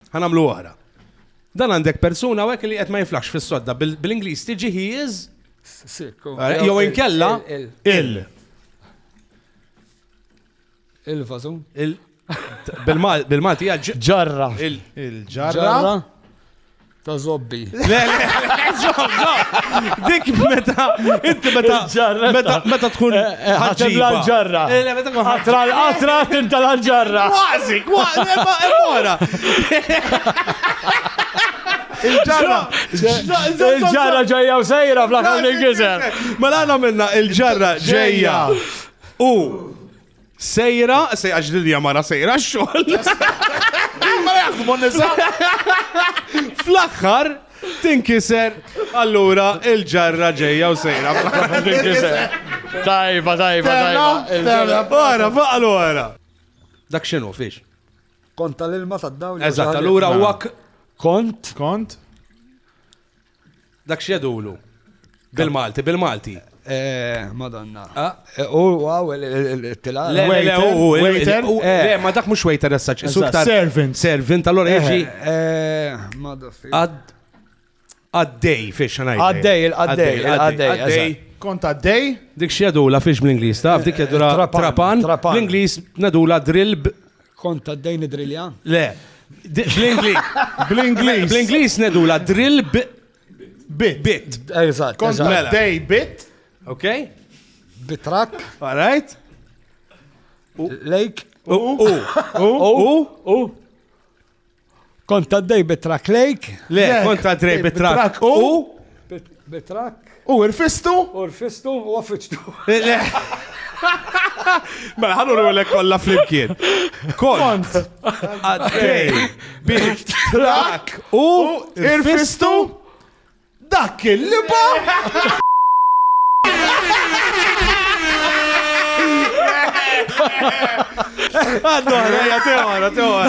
Ħanamlu oħra. Dan għandek persuna għek li qed ma jiflax fis-sodda bil-Ingliż tiġi he is eh, jew inkella il. Il-vażun. Bil-Malti ġarra. Il-ġarra. Ta' zobbi. Le, le, dik meta, inti meta, meta, meta tkun eh, eh, ħaġib l-ġarra. Eh, le, meta tkun ħatra l-qatra tinta l-ġarra. Kważi, kważi, mora. Il-ġarra. Il-ġarra ġejja u sejra fl-aħħar il-gizer. Mela għana minna il-ġarra ġejja. U Sejra, sejra ġdilja mara sejra xogħol. Ma jaħdmu nisa. Fl-aħħar tinkiser allura il-ġarra ġejja u sejra. Tajba, tajba, tajba. Ora, faqal ora. Dak xinu, fiex. Kont tal-ilma tad-dawl. Eżatt, allura u Kont. Kont. Dak x'jedulu? Bil-Malti, bil-Malti. Eh, madonna. Ah. Eh, u għaw il-tila. Le, le, u waiter. Eh. Le, ma dak mux waiter essaċ. Servant. Servant, allora jieġi. Għaddej, fiex xanaj. Għaddej, għaddej, għaddej. Kont għaddej? Dik xiedu la fiex bl-Inglis, taf, dik jadula trapan. L-Inglis nadula drill Kont ta' dejn id-drilja? Le. Bl-Inglis. Bl-Inglis. Bl-Inglis nedu la drill bit. Bit. Eżatt. Kont ta' mela. dej bit. Ok? Bitrak. All right. Lake. U. U. U. U. Kont għaddej bit-trak lejk. Le, kont għaddej bit-trak u. Bit-trak. U rfistu? U rfistu u għaffiċtu. Le. Mela, ħallu l kolla flimkien. Kont. Għaddej. Bit. Trak. U. Irfistu. Dak il-liba. Għaddu għara, għara, għara.